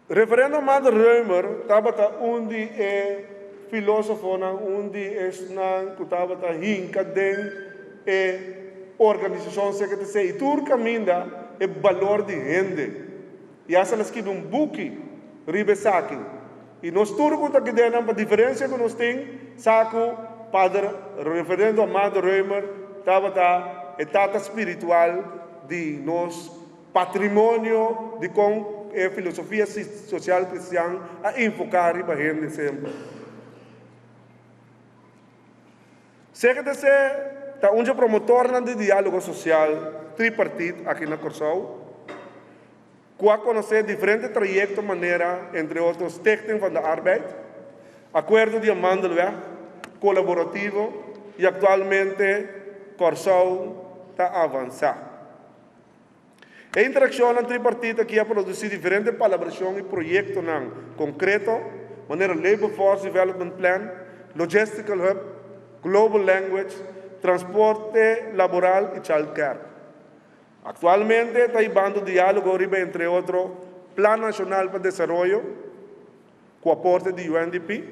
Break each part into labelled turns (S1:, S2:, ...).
S1: Referendo Matt Römer tabata un di e filósofonan, un di esnan ku tabata hinka den e organisashon seke ta sea, i tur kaminda e balor di hende, i hasta el a skibi un buki riba esaki. I nos tur ku ta kidennan pa diferensia ku nos tin sa ku Pader Referendo Matt Römer tabata e tata spiritual di nos, Patrimonio di kon e filosofia sosial kristian a enfoká riba hende sempri. Seke ta esei ta un dje promotornan di diálogo sosial tripartit aki na Kòrsou, ku a konosé diferente trayekto manera entre otro Stichting van de Arbeid, Acuerdo di Amandelweg, Colaborativo i aktualmente Kòrsou ta avansá. E interakshonnan tripartit aki a produsí diferente palabrashon i proyektonan konkreto, manera Labor Force Development Plan, Logistical Hub, Global Language, Transporte Laboral i Child Care. Aktualmente ta hibando diálogo riba entre otro Plan Nashonal pa Desaroyo ku aporte di UNDP,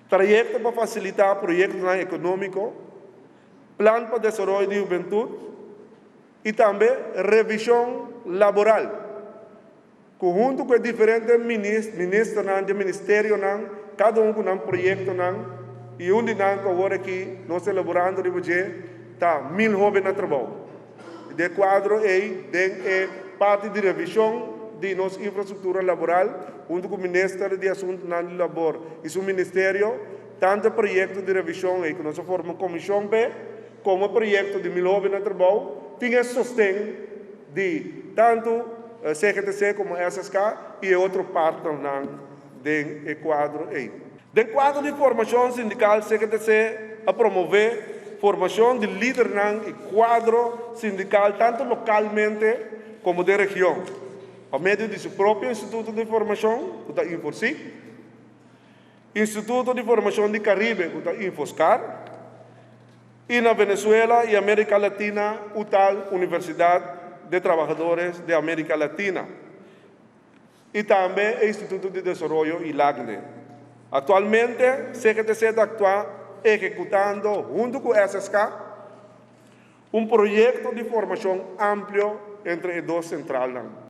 S1: trayekto pa fasilitá proyektonan ekonómiko, Plan pa Desaroyo di Hubentud i tambe Revishon Laboral, ku huntu ku e diferente ministernan den ministerionan kada un ku nan proyektonan i un di nan ku awor aki nos ta elaborando riba dje ta Mil Hoben na Trabou. I den e kuadro ei den e parti di revishon di nos infrastruktura laboral huntu ku Minister di Asuntunan di Labor i su ministerio, Tantu e proyekto di revishon ei ku nos a forma un komishon p'e komo e proyekto di Mil Hopi na Trabou tin e sosten di tantu CGTC komo SSK i e otro partnernan den e kuadro ei. Den kuadro di formashon sindikal CGTC a promové formashon di lidernan i kuadro sindikal tantu lokalmente komo den region pa medio di su propio instituto di formashon ku ta Inforsic. Instituto di Formacion di Caribe, cu ta Infoscar, y na Venezuela y America Latina, UTAL, Universidad de Trabajadores de America Latina, y tambe e Instituto di Desaroyo y LACNDE. Actualmente, CGTC ta actua ehecutando, hunto cu SSK, un proyecto di formacion amplio entre e dos centralnan.